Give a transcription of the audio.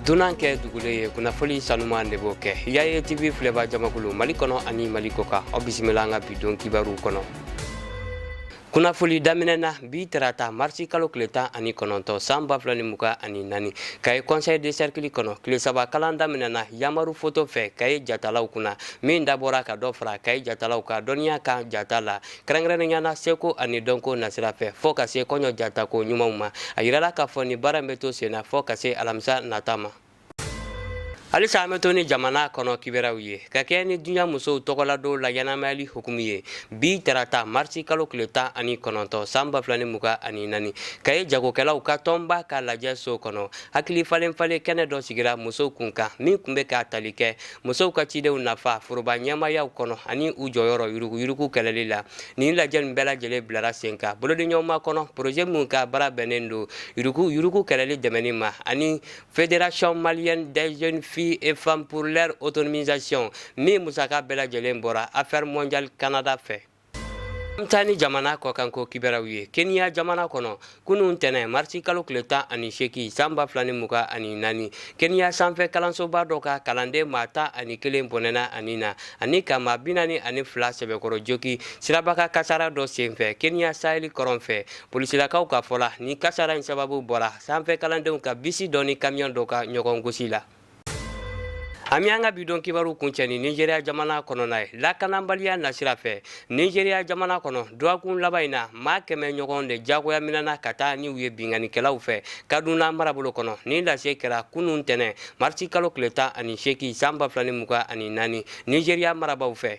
dunan kɛ dugulen ye kunnafoli sanuman de b'o kɛ yaye tv filɛba jamakulu mali kɔnɔ ani mali kɔkan aw bisimila an ka bidon kibaruw kɔnɔ kunnafoli daminɛ na bi tarata marisi kalo tile tan ani kɔnɔntɔn san ba fila ni mugan ani naani kayes conseil de cercle kɔnɔ tile saba kalan daminɛna yamaru foto fɛ kayes jatalaw kunna min dabɔra ka dɔ fara kayes jatalaw ka dɔnniya kan jata la kɛrɛnkɛrɛnnenya na seko ani dɔnko nasira fɛ fɔɔ ka se kɔɲɔ jatako ɲumanw ma a yirala k'a fɔ nin baara bɛ to sen na fɔɔ ka se alamisa nata ma halisa an bɛ to ni jamana kɔnɔ kibaruyaw ye ka kɛɲɛ ni duniɲa musow tɔgɔladon laɲɛnamayali hukumu ye bi tarata marisi kalo tile tan ani kɔnɔntɔn san ba fila ni mugan ani naani kayes jagokɛlaw ka tɔnba ka lajɛso kɔnɔ hakili falen falen kɛnɛ dɔ sigira musow kunkan min kun bɛ ka tali kɛ musow ka cidenw nafa foroba ɲɛmaayaw kɔnɔ ani u jɔyɔrɔ yuruguyurugu kɛlɛli la nin lajɛ nin bɛɛ lajɛlen bilara sen kan bolodiɲɔgɔnma kɔnɔ poroze min ka baara bɛnnen don yuruguyurugu kɛlɛli dɛmɛnni ma ani fédération malienne des jeunes filles et femmes pour leur autonomisation min musaka bɛɛ lajɛlen bɔra affaires mondiales canada fɛ An bɛ taa ni jamana kɔkan ko kibaruyaw ye Kenya jamana kɔnɔ kunun ntɛnɛn marisi kalo tile tan ani seegin san ba fila ni mugan ani naani Kenya sanfɛ kalansoba dɔ ka kalanden maa tan ani kelen bɔnɛna a ni na ani ka maa bi naani ani fila sɛbɛkɔrɔ jogin sirabakan kasaara dɔ senfɛ Kenya saheli kɔrɔn fɛ polisilakaw ka fɔ la nin kasaara in sababu bɔra sanfɛ kalandenw ka bisi dɔ ni kamiyon dɔ ka ɲɔgɔn gosi la. An bɛ an ka bidon kibaruw kuncɛ ni Nijeriya jamana kɔnɔna ye lakananbaliya nasira fɛ Nijeriya jamana kɔnɔ dɔgɔkun laban in na maa kɛmɛ ɲɔgɔn de diyagoya minɛna ka taa n'u ye binkannikɛlaw fɛ Kaduna marabolo kɔnɔ nin lase kɛra kunun ntɛnɛn marisi kalo tile tan ani seegin san ba fila ni mugan ani naani Nijeriya marabaaw fɛ